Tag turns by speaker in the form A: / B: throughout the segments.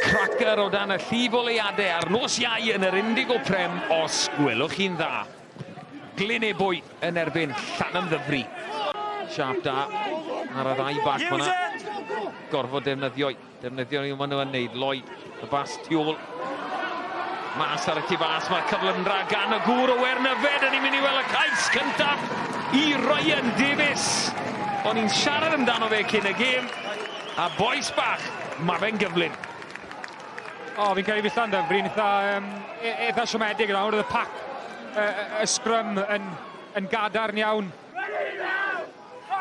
A: Cracker o dan y llif o leiadau ar nos iau yn yr Indigo Prem, os gwelwch chi'n dda. Glyn Ebwy yn erbyn Llanymddyfri. Siap da ar y ddau bac fyna. Gorfod defnyddio'i, defnyddio ni maen nhw yn neud. Lloyd Y bas tu ôl. Mas ar y tu fas, mae'r cyfle yn rhag gan y gŵr o Wernyfed. Yn ni'n mynd i weld y cais cyntaf i Ryan Davies. O'n i'n siarad amdano fe cyn y gêm. A boes bach, mae fe'n gyflym.
B: O, fi'n cael ei fillta yn Bryn eitha, um, e-, eitha siomedig yna, oedd y pac, y, y, y sgrym yn, yn gadarn iawn.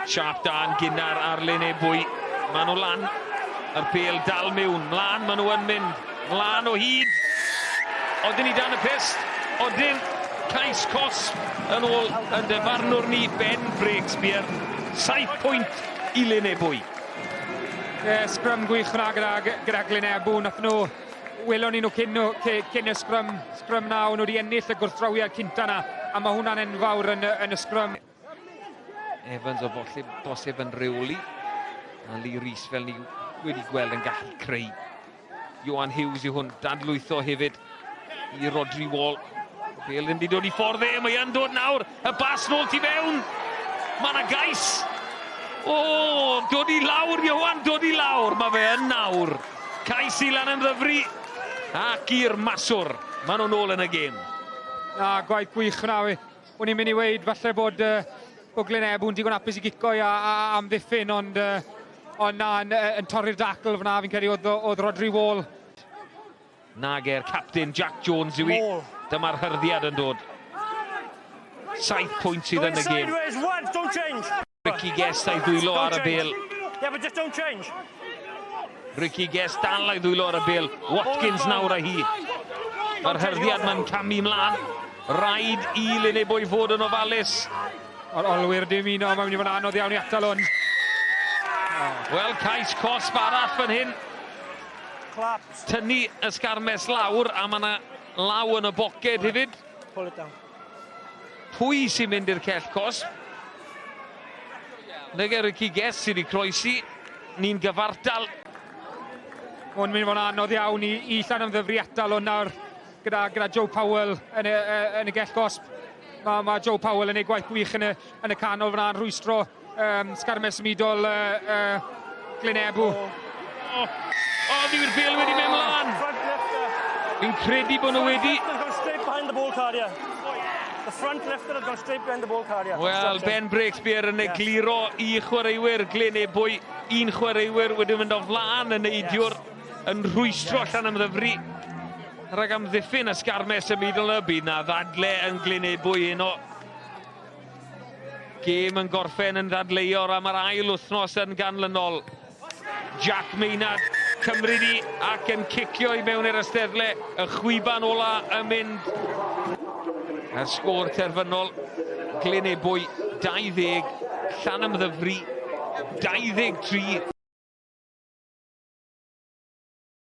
B: Siap
A: da yn gynnar ar Lyn Ebwy. Maen nhw lan. Yr pêl dal miwn. Mlaen maen nhw yn mynd. Mlaen o hyd. Odyn ni dan y pist. Odyn cais cos yn ôl yn defarnwr ni Ben Breakspear. 7 pwynt i Lyn Ebwy. E,
B: sgrym gwych yna gyda, gyda Glyn Ebw. Nath nhw, welon ni nhw cyn, nhw, cyn y sgrym, sgrym na, o'n nhw wedi ennill y gwrthdrawiad cynta yna. A mae hwnna'n enfawr yn, yn y sgrym.
A: Evans o bosib, bosib yn rheoli. A Lee Rees fel ni wedi gweld yn gallu creu. Johan Hughes yw hwn, dadlwytho hefyd i Rodri Wall. Bel ddim wedi dod i ffordd e, mae yn dod nawr, y bas nôl ti fewn. Mae yna gais. O, dod i lawr, Johan, dod i lawr, mae fe yn nawr. Cais i lan yn ddyfru ac i'r maswr. Maen nhw'n ôl yn y gêm. Na, gwaith
B: gwych hwnna fi. O'n i'n mynd i weud falle bod uh, Bwglyn Ebw'n digon apus i gico a, a amddiffyn, ond, uh, ond na, yn, yn torri'r dacl fyna, fi'n credu oedd, oedd Rodri Wall.
A: Nag e'r captain Jack Jones yw i. Dyma'r hyrddiad yn dod. Saith pwynt sydd yn y gêm. Ricky Guest a'i ddwylo ar y bel. Yeah, but just don't change. Ricky Guest dal a'i ddwylo ar y bel. Watkins nawr a hi. Mae'r herddiad mae'n camu mlaen. Rhaid i Linebo i fod yn ofalus. O'r olwyr
B: dim un o'n mynd i fod yn anodd iawn i atal hwn.
A: Wel, cais cosb arall fan hyn. Tynnu ysgarmes lawr a mae yna law yn y boced hefyd. Pull it down. Pwy sy'n mynd i'r cell cos? Nege Ricky Guest sydd wedi croesi. Ni'n gyfartal.
B: Mae'n mynd i fod yn anodd iawn i, i llan ymddyfri atal o'n nawr gyda, gyda Joe Powell yn y, yn y gell gosb. Mae, mae Joe Powell yn ei gwaith gwych yn y, yn y canol fyna'n rhwystro Um, sgarmau symudol uh, uh, Glenebu. Oh, oh, oh fi'r bil wedi mynd mlaen. Fi'n credu bod nhw wedi... Straight behind the ball carrier. The front lifter had gone straight behind the ball carrier. Wel, Ben Breakspear yn egluro i chwaraewyr Glenebu. Un chwaraewyr wedi mynd o flaen yn neidiwr yn rhwystro allan am ddyfru. Rhag am ddiffyn a sgarmes y middle y bydd na ddadle yn Glenebu un o Gêm yn gorffen yn ddadleuor am yr ail wythnos yn ganlynol. Jack Maynard, Cymru ni, ac yn cicio i mewn i'r ysteddle, y chwiban ola yn mynd. A'r sgôr terfynol, Glyn Ebwy 20, Llan Ymddyfri 23.